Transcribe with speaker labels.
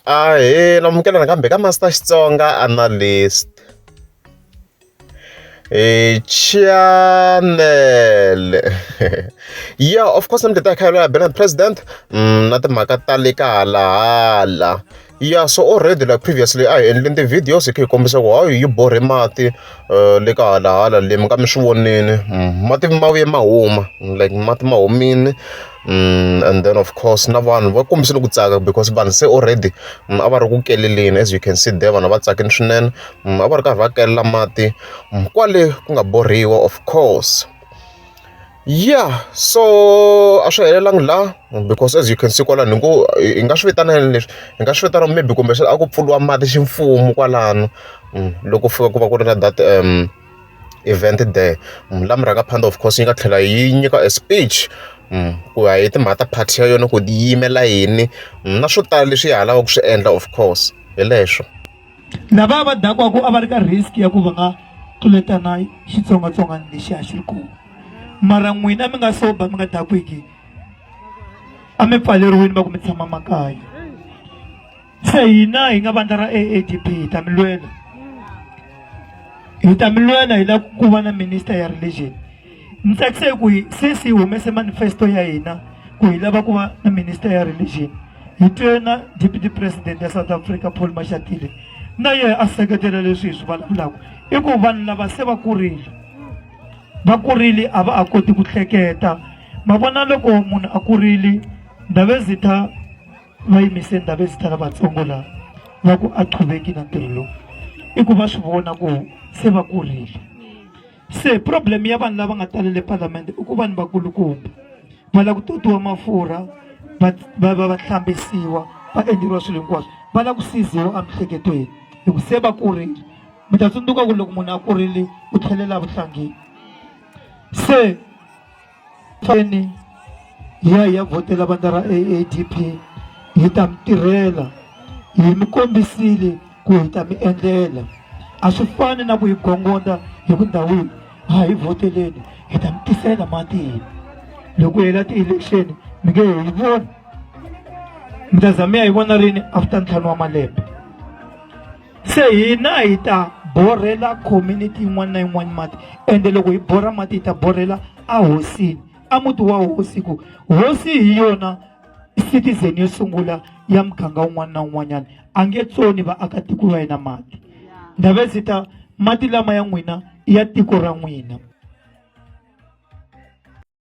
Speaker 1: Ahee, amukela nakambe ka Master Xitsonga Analyst. E chanele yeah of course ni mi tata khayelo ya bela president mm, na timhaka ta le ka halahala yeah so already like previously a hi endleni ti-videos hi kha hi kombisa ku how you borhe mati le ka hala hala le mi nga mi swi vonile mati ma vuye ma huma like mati ma humile and then of course na vanhu va kombisile ku tsaka because vanhu se already a va ri ku kelela as you can see there vanhu a va tsakile swinene a va ri karhi va kelela mati kwale ku nga borhiwa of course. yeah so a swi helelangi laha because as you can see kwalano hi ngo hi nga swi vitana yini leswi hi nga swi vitana maybe kumbe a ku pfuriwa mati ximfumo kwalano mm, loko fika ku va ku ri na that um event there mm, la murhanga phanda of course yi nga tlhela yi nyika a speech mm, ku ya hi timhaka ta party ya yona ku yi yimela yini na swo tala leswi yi ha lavaka ku swi endla of course hi leswo lava va
Speaker 2: dakwaku a va ri ka risk ya ku va nga tluletana xitsongwatsongwana lexi a xi ri kona mara n'wina mi nga soba mi nga dakwiki a mi pfaleriwini va ku mi tshama makaya se hina hi nga vandla ra aadp hi ta mi lwela hi ta mi lwela hi lava ku va na minister ya religion Ndzi tsakise ku hi sesi hi humese manifesto ya hina ku hi lava ku va na minister ya religion hi twe na deputy president ya south africa paul mashatile na yena a seketela leswi hi swi vulavulaka i ku vanhu lava se va kurile va kurile a va a koti ku hleketa ma vona loko munhu a kurile ndhavezitha va yimise ndhavezitha lavatsongo laha va ku a qhuveki na ntirho lowu i ku va swi vona ku se va kurile se problem ya vanhu lava nga tala le palamende i ku vanhu vakulukumba va lava ku totiwa mafurha va va va va hlambisiwa va endleriwa swilo hinkwaswo va lava ku siziwa emihleketweni hi ku se va kurile mi ta tsundzuka ku loko munhu a kurile u tlhelela vuhlangeni se Keni hi ya hi ya vhotela vandla ra AADP hi ta mi tirhela hi mi kombisile ku hi ta mi endlela a swi fani na ku hi gongonda hi ku ndhawini a hi vhoteleni hi ta mi tisela matini loko hela ti-election mi nge hi voni mi ta za mi ya hi vona rini after ntlhanu wa malembe se hina hi ta borhela community yin'wana na yin'wana mati ende loko hi borha mati hi ta borhela ahosini a muti wa hosi ku hosi hi yona citizen yo sungula ya muganga wun'wana na wun'wanyana a nge tsoni vaakatiko va yena mati ndhave ndzi ta mati lama ya n'wina i ya tiko ra n'wina